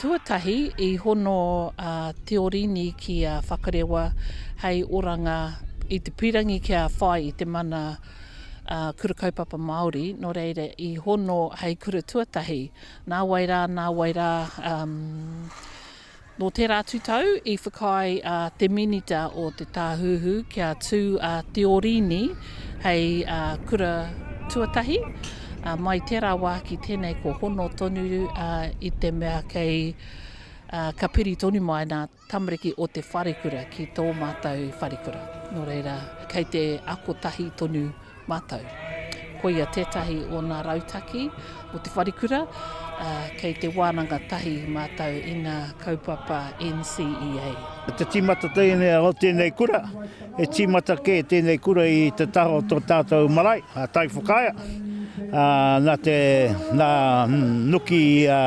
Tuatahi, i hono a Teorini ki a Whakarewa hei oranga i te pīrangi kia whai i te mana Kura Kaupapa Māori, nō reira i hono hei kura tuatahi. Nāwai rā, nāwai rā, nō tērā atu tau i whakaae a te Minita o Te Tāhuhu kia tū a Teorini hei kura tuatahi. mai tērā wā ki tēnei ko hono tonu i te mea kei ka piri tonu mai nā tamariki o te wharekura ki tō mātou wharekura. Nō reira, kei te ako tahi tonu mātou. Koia tētahi o nā rautaki o te wharekura, uh, kei te wānanga tahi mātou i ngā kaupapa NCEA. Te tīmata tēnei o tēnei kura, He tīmata kē tēnei kura i te taha o tō tātou marae, a Taiwhakaea, ā, nā te, nā Nuki ā,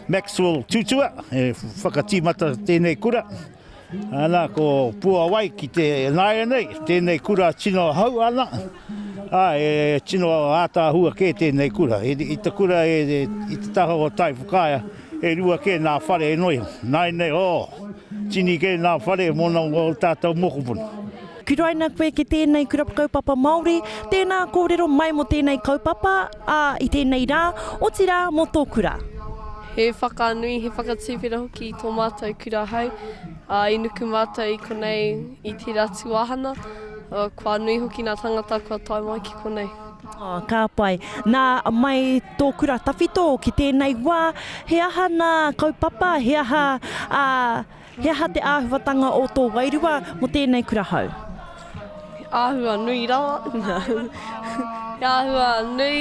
Maxwell Tutua e whakatīmata tēnei kura. Nā, ko Puawai ki te nāianei, tēnei kura tino hau ana, ā, e tino ātaahua kē tēnei kura. I te kura e, i te taha o Taiwhakaea, E rua kē nā whare e noea. Nāinei, oh! Tini kē nā whare mōna o ō tātou mokopuna. Kuraina koe ki tēnei Kura Kaupapa Māori, tēnā kōrero mai mō tēnei kaupapa, ā, i tēnei rā, otirā mō tō kura. He whakanui, he whakatuwhera hoki i tō mātou kura hei, ā, i nuku mātou i konei i tērā tuāhana, ā, kua nui hoki ngā tāngata kua tae mai ki konei. Oh, ka pai. Nā, mai tō kura tawhito ki tēnei wā, he aha nā kaupapa, he aha, ā, he aha te āhuatanga o tō wairua mō tēnei kura hou? He āhua nui rawa, he āhua nui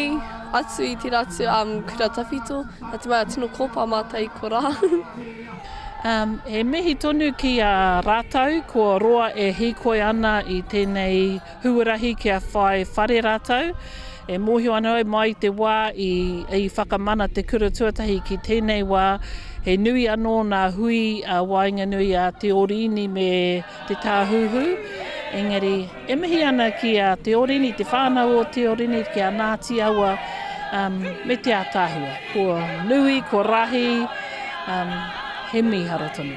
atu i tērā atu kura tawhito, nā te mea tino kōpā mātou i korā. He mihi tonu ki a rātou ko roa e hīkoi ana i tēnei. Huarahi kia whai whare rātou. E mōhio ana au mai i te wā i whakamana te kura tuatahi ki tēnei wā, he nui anō ngā hui a waenganui a Te Orini me Te Tāhuhu. Engari, e mihi ana ki a Te Orini, te whānau o Te Orini, ki a Ngāti Awa me te ātaahua. Kua nui, kua rahi, he mīharo tonu.